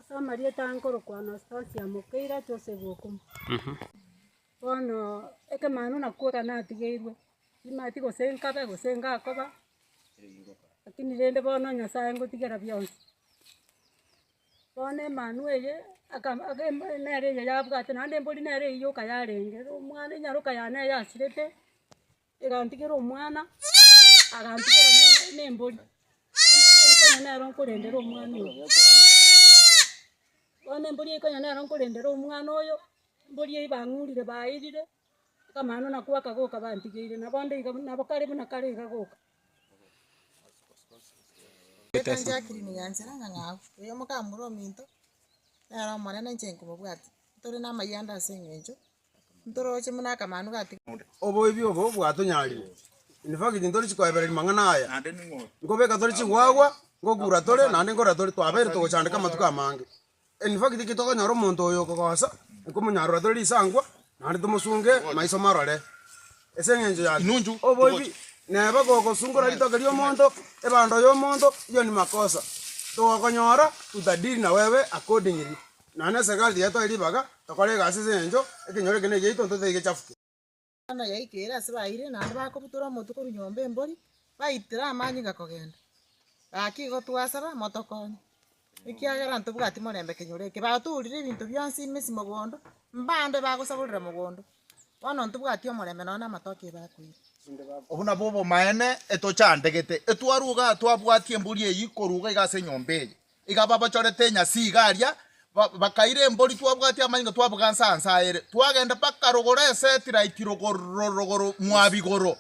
Ase amarieta aya nkorokwa Anastasia Mukeire Joseph Okumu. Bono ekemanu nakwo ekero natigeirwe, timati gose nkabe gose ngakoba, lakini rende bono Nyasae ngotigera bionsi. Bono emanu eye akaba ake nere eye yabwate naende mbori nere eyio okayarenge, omwana enyaroka yane eyasirete. egantigera omwana, agantigera ne- nembori, embori nero nkorendere omwana oyo. Bono embori ikonya nero nkorendere omwana oyo, embori eyio bang'urire bairire, akamanu nako bakagoka bantigeire, nabo onde iga buna nabo kare buna kare iga goka. oyo mokamura ominto, nere omonene inche nkobabwatia, ntore namayanda aseng'encho. Ntoroche buna akamanu gatiga. Oboibi obo bwatonyarire. In fact, ntori chikoebereria mang'ana aya. Nkobeka tore chigwagwa, ngokura tore, naende nkorera tore, twabeire togochandeka amatuko amange. In fact, ki tokonyora omonto oyo okogosa, nkomonyarora tore risankwa, naende tomosunge maiso marore. Ase eng'encho yaki? Oboibi neba gogosungora ritoke ri'omonto, ebando y'omonto, eyio ni makosa. Togokonyora, tutadili na wewe accordingly. Na nese ekero tigetoe ribaga, tokore egasi ase engencho ekenyoro eke negiaito ntotete gechafuke. Eng'ana yaika ere ase baeire, naende bakobutora omotwe korwa nyomba embori, baitire amanyinga kogenda. Gaki igo twasaba, motokonye, ekiagera ntobwati morembe ekenyoro eke. Batoorire ebinto bionsi ime ase mogondo, mbande bagosaborera mogondo, bono ntobwati omorembe nonya namatoke e bakoira. Obwo nabwo obomaene etochandegete, etwaruga twabwati embori eyio koruga iga ase enyomba eye. Iga babochorete enyasi iga aria, bakaira embori twabwatia amanyinga twabuga nse anse aere, twagenda mpaka rogoro Esetiriti rogoro mwa bigoro,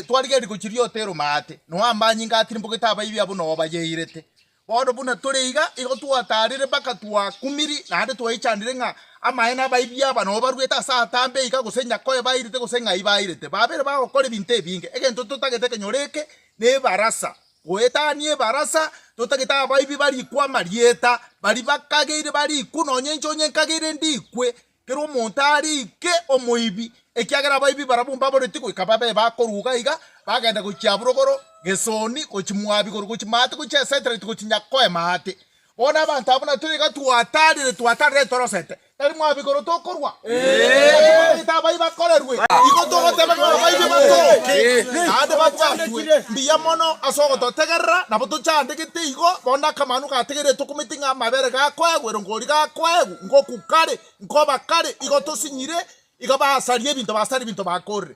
twarigia rigochi ri'oto eroma aate, noa amanyinga atirimbogete abaibi abwo nao bayairete. Bono buna tore iga, igo twatarire mpaka twakumiri, naende twaichanire ng'a amaene abaibi aba nao baruete ase atambe iga, gose nyakoe bairete gose ng'ai bairete, babeire bagokora ebinto ebinge, egento totagete kenyora eke nebarasa. Goetania ebarasa, totagete abaibi barikwe amarieta, baria bakageire barikwe, nonya inche onye nkageire ndikwe, kera omonto arike omoibi, ekiagera abaibi barabwo mbaboretie goika babe bakorwa iga iga, bagenda gochia Aburogoro, Gesoni, gochia Moabi, igoro gochia Maate, gochia Esetereti, gochia Nyakoe Maate. Bono abanto abwo natwe nigo twataarire, twataarire torosete. Tari mwabo igoro tokorwa, naki bamanyete abayi bakorerwe. Igo togoteba ng'a abaibia batooke, naende babwatwe mbuya mono ase ogototegerera. Nabo tochandegete igo, bono akamanu gategeire tokometi ng'a amabere gakoegwa, erongori gakoegwa, ngoku kare, nkoba kare, igo tosinyire, igo basaria ebinto, basaria ebinto bakorire.